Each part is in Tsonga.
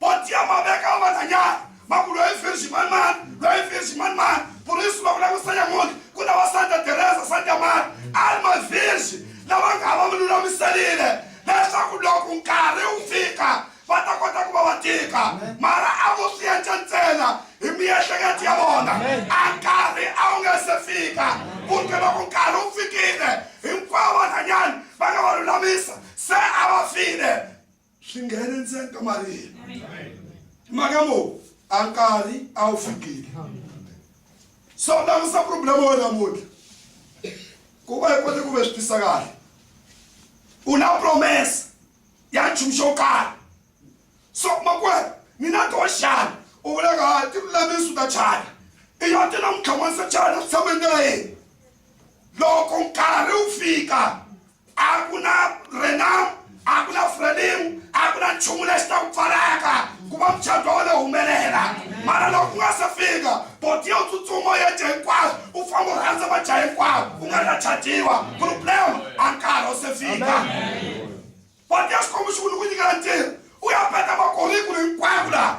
potia maveka vananyana maku loyi virgin man man loyi virgin man man purisi va vula ku sanya muti ku na va santa teresa santa mari a ri mavirgin lava nga va vululamiserile leswaku loko nkarhi wu fika va ta kota ku va va tika mara a vo swi endla ntsena hi miehleketo ya vona a nkarhi a wu nga se fika kumbe loko nkarhi wu fikile hinkwavo vanhanyani va nga va lulamisa se a va file swi nghene ntsena ka mali yena mhaka mo a nkarhi a wu fikile so langusa problem wa namuntlha ku va hi kote ku ve swi tisa kahle u na promesa ya nchumu xo karhi so makwena ni na to xana u vulaka ha ti lulamisi u ta chana i yo ti na mutlhamanisa chana swi tshama hi ndlela yini loko nkarhi wu fika a ku na renam a ku na frelim a ku na nchumu lexi ta ku pfalaka ku va muchato wa wena humelela mara loko ku nga se fika boti yo tsutsuma ya dya hinkwaswo u famba u rhandza va dya hinkwaswo u nga ri na chatiwa problem a nkarhi wu se fika boti ya xikwembu xi ku ni ku nyikela ntirho u ya peta makorikulu hinkwako laha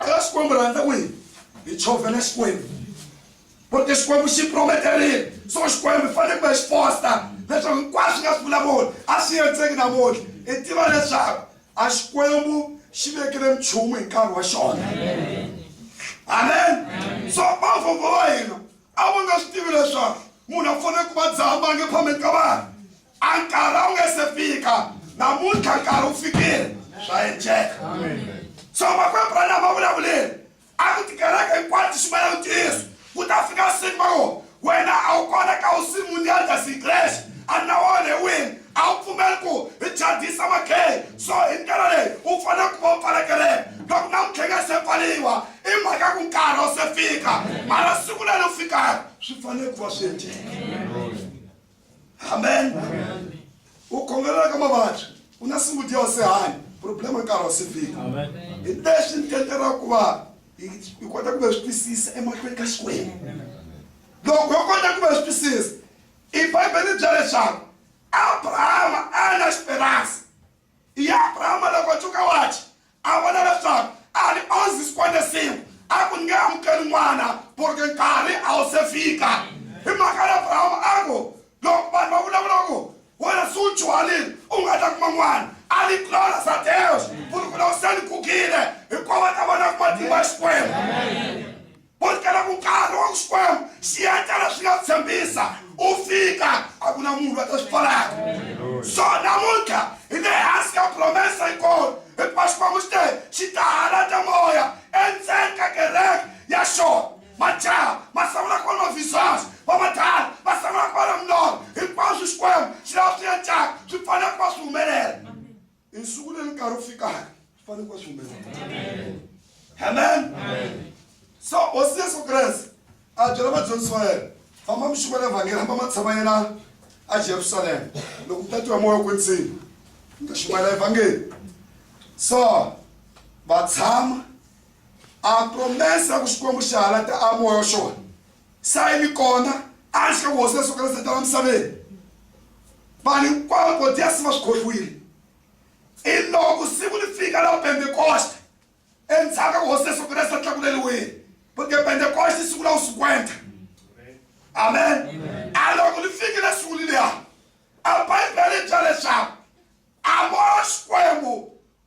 eka xikwembu rhandza ku yini hi chovela xikwembu porque xikwembu xi prometerile so xikwembu fanele kumbe xi fosta leswaku hinkwaswo swi nga swi vulavuli a swi yenzeki namuntlha i tiva leswaku a xikwembu xi vekile nchumu hi nkarhi wa xona amen so vavhova va hina a va nga swi tivi leswaku munhu a fanele ku va dzaha mange phambeni ka vanhu A nkarhi a wu nge se fika namuntlha nkarhi wu fikile swa endleka so makwembu branham a vulavulile a ku tikereke hinkwato ximela ku tiyiso ku ta fika siku va ngo wena a wu kona ka u simundial ta sikrexi a na wona hi wini a wu pfumeli ku hi chadisa makhei so hi ndlela leyi u fanele ku va u pfala kereke loko namuntlha nge se pfaliwa i mhaka ku nkarhi wu se fika mara siku leri u fikaka swi fanele ku va swi endleka amen u khongelela ka mavabyi u na siku dya u se hanya problema nkarhi wa se fika hi lexi ni tendlela ku va hi kota ku va swi twisisa emahlweni ka xikwembu loko yo kota ku va swi twisisa i bibele bya leswaku abrahama a na xiperansi Iye Abrahama loko a tshuka wachi, a vona leswaku a ni onzi sikwande sin'we, a ku ni nge amukeli n'wana, porque nkarhi a wu se fika. Hi mhaka ya Abrahama a ku, loko vanhu va vulavula va ku, wena se u dyuharile, u nga ta kuma n'wana, a ni glórias a Deus, porque loko se ni gugile, hinkwavo va ta va na matimba ya Xikwembu. u ri kala ku nkarhi wa ku xikwembu xi endlela swi nga tshembisa u fika a ku na munhu va ta swi pfalaka so namuntlha hi le hansi ka promesa yikolo hikuva xikwembu xi te xi ta halata moya endzeni ka kereke ya xona majaha ma sangula ku va na mavizasi vamadala va sangula ku va na milorho hinkwaswo xikwembu xi lava swi endlaka swi fanele ku va swi humelela i nsuku leyi nkarhi wu fikaka swi fanele ku va swi humelela amen so hosi yesu kreste a byela vadyondzisi va yena famba mi xikwa le vhangeri hamba ma tshama yena a jerusalema loko tatiwa moya ku ndzima mi ta xikwa la evhangeri so va tshama a promesa ku xikwembu xi halata a moya xona sayini kona a ri xi ka vuhosi leswaku ri zetela misaveni vanhu hinkwavo vo dya si va swi khohliwile i loko siku ri fika la pentekoste endzhaku ka vuhosi leswaku resa tlakuleliwile porque pentekoste i siku la usikwenta amen a loko ri fikile siku liliya a bibele bya leswaku a vo xikwembu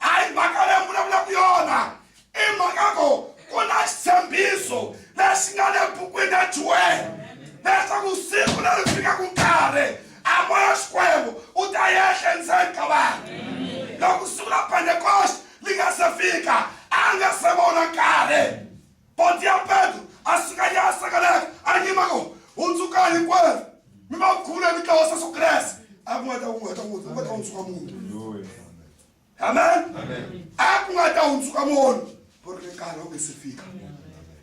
a hi mhaka leyi vulavulaka yona i mhaka ku ku na xitshembiso lexi nga le bukwini ya juwele leswaku siku leri fikaka nkarhi a moya xikwembu u ta yehla endzeni ka vanhu loko siku ra pentekoste li nga se fika a nga se vona nkarhi Ponti ya Petro a suka ya sekeleka a nyima ko u tsuka hinkwerhu mi va khula mi tlawa seso kreste a ku nga ta ku nga ta ku nga ta u tsuka munhu amen a ku nga ta u tsuka munhu ku ri nkarhi wu nge se fika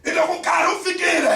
i loko nkarhi wu fikile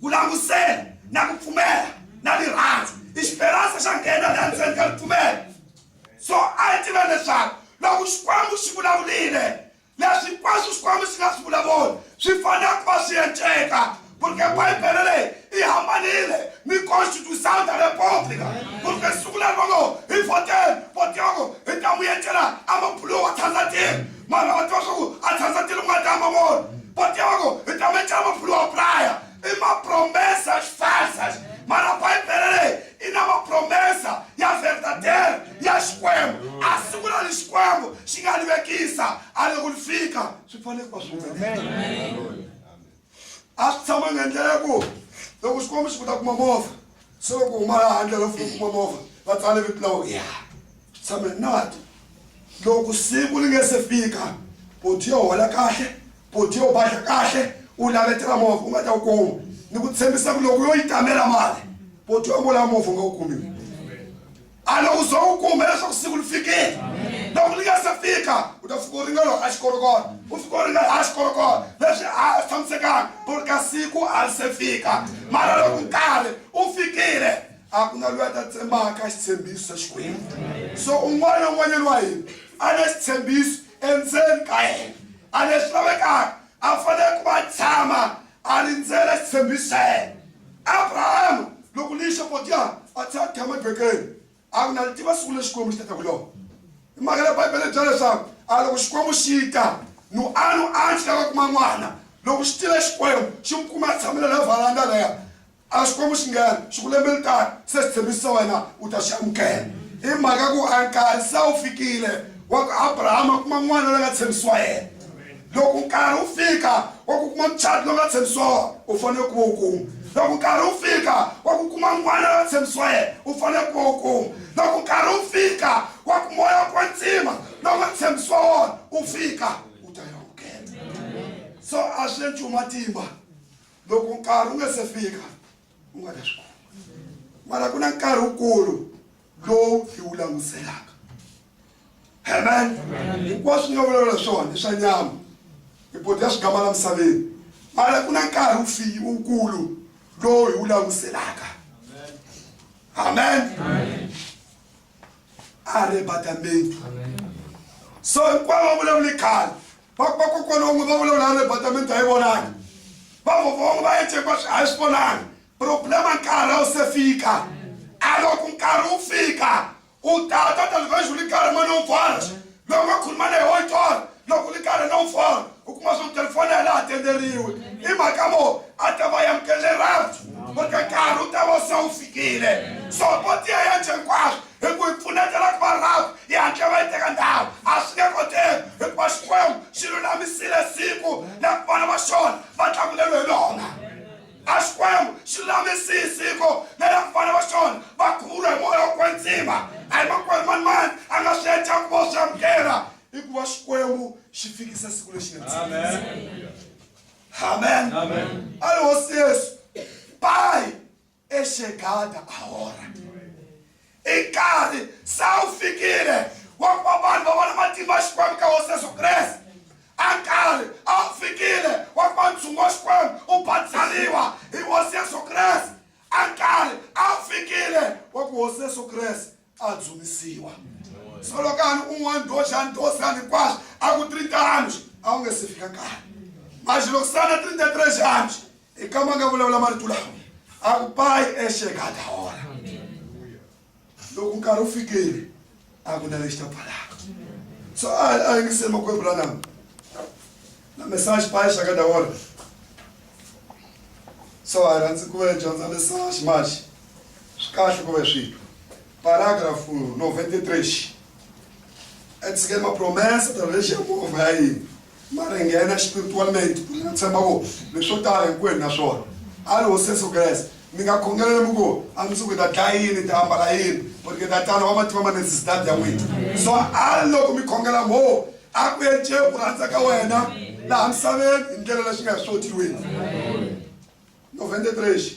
Ku langutisela na ku pfumela na rirhandzu i xiperansa xa nghena la ndzeni ka ripfumelo. So a yi tiva leswaku loko Xikwembu xi vulavulile leswi hinkwaswo Xikwembu xi nga swi vulavuli swi fanele ku va swi enceka porque Bibele leyi i hambanile ni Constituição da República porque siku leri va ngo hi vhoteni vote yoko hi ta n'wi encela a mabuluwa Tanzania Mwana va tiva swa ku a tshandza tilo nga ta mavona va tiva ku hi ta me tshama phulu wa praya i mapromesa xifasa mara bibele leyi i na mapromesa ya verdader ya xikwembu a siku ra ni xikwembu xi nga livekisa a loko ni fika swi fanele ku va swi humelela a swi tshama nga ndlela ya ku loko xikombiso ku ta kuma movha se loko huma laha handle va funa kuma movha va tsale vito la wena ya swi tshame nati loko siku ri nge se fika boti yo hola kahle boti yo badla kahle u lavetela movha u nga ta wu kuma ni ku tshembisa ku loko yo yi tamela mali boti yo vula movha u nga wu kumile a loko uze u kuma leswaku siku li fikile loko li nga se fika u ta fika u ringana a xikorokoro u fika u ringana a xikorokoro leswi a swi tshamisekanga ku ri ka siku a li se fika mara loko nkarhi u fikile a ku na loyi a ta tsembaka xitshembiso xa xikwembu so un'wana na un'wanyana wa hina a na xitshembiso endzeni ka yena a leswi lavekaka a fanele ku va tshama A rindzele xitshembisweni. Abrahama, loko ni yixe potyana, a tlhela a tshama ebekeni. A ku, Na li tiva siku leri Xikwembu xi ta ta ku lona. Hi mhaka leyi Bibele yi byela leswaku, A loko Xikwembu xi ta, nu a nu a xi lava kuma n'wana. Loko xi tile Xikwembu, xi n'wi kume a tshamile laya varanda laya, a Xikwembu xi nghena xi ku lembe li taka se xitshembiso xa wena u ta xi amukela i mhaka ku a nkarhi se wu fikile wa ku Abrahama a kuma n'wana la nga tshembisiwa yena loko nkarhi wu fika wa ku kuma muchati lowu nga tshembisiwa wona u fanele ku va u kuma loko nkarhi wu fika wa ku kuma n'wana la nga tshembisiwa yena u fanele ku va u kuma loko nkarhi wu fika wa ku moya wa kwantsima lowu nga tshembisiwa wona u fika u ta yi amukela so a swi le nchumu matimba loko nkarhi wu nga se fika u nga ta swi kuma mara ku na nkarhi wukulu lowu hi wu languselaka amen hinkwaswo nga vulavula swona i swa nyama hi bodi ya swigama la misaveni mara ku na nkarhi wu fiyi wukulu lowu hi wu languselaka amen a ri batamenti so hinkwavo va vulavule khale vakokwana van'we va vulavula na departament a yi vonangi vavhova van'we va ya chekwa a yi swi vonangi problema nkarhi a wu se fika a loko nkarhi wu fika u tata talivhexi u ri karhi mani u pfala loyi nga khuluma na hi wa tona loko u ri karhi na u pfala u kuma swa ku telefoni ya laha tenderiwe i mhaka vo a ta va yamukelele rapfu va ri ka nkarhi u ta va se wu fikile so vo tiya ya chekwaswo Hi ku hi pfuneta loko va rhafu, yi hatle va yi teka ndhawu. A swi nge koteki, hikuva Xikwembu xi lulamisile siku na ku vana va xona va tlanguleriwe hi lona. A Xikwembu xi lulamisi siku na la ku vana va xona va khuvuriwa hi moya wa kwetsima. A hi makwerhu mani mani a nga swi endla kumbe u swi amukela, hikuva Xikwembu xi fikise siku lexi nga tshikisa. Amen. Amen. A ri hosi Yesu. Bye. exegada ahora i nkarhi se wu fikile wa ku va vanhu va vona matimba ya xikwembu ka hosi yesu kreste a nkarhi a wu fikile wa ku va ntshungu wa xikwembu u batsariwa hi hosi yesu kreste a nkarhi a wu fikile wa ku hosi yesu kreste a dzunisiwa solokani un'wana doxani dosani hinkwaswo a ku tiri tano a wu nge se fika kani maxilokisana tiri ta tire xanji hi kama nga vulavula marito lawa a ku payi exekadahora loko nkarhi wu fikile a ku na lexi ta pfalaka so a a yingiseli makwembu la nama na mesaxi paye xaka dawona so a hi rhandzi ku ve dyondza mesaxi maxi swi kahle ku ve swilo paragraph novente trexi etshike mapromesa ta lexi ya movha ya yini ma ri nghena spiritualmente ku nga tshemba ku leswi swo tala hinkwenu na swona a ri hosi yesu kreste mi nga khongelele mi ku a mi suku ta dlaya yini ti ambala yini porque tatana wa mativa manetsi sidadi ya n'wina so a loko mi khongela ngo a ku ence ku rhandza ka wena laha misaveni hi ndlela leswi nga hi swi koti hi wena novhende trexi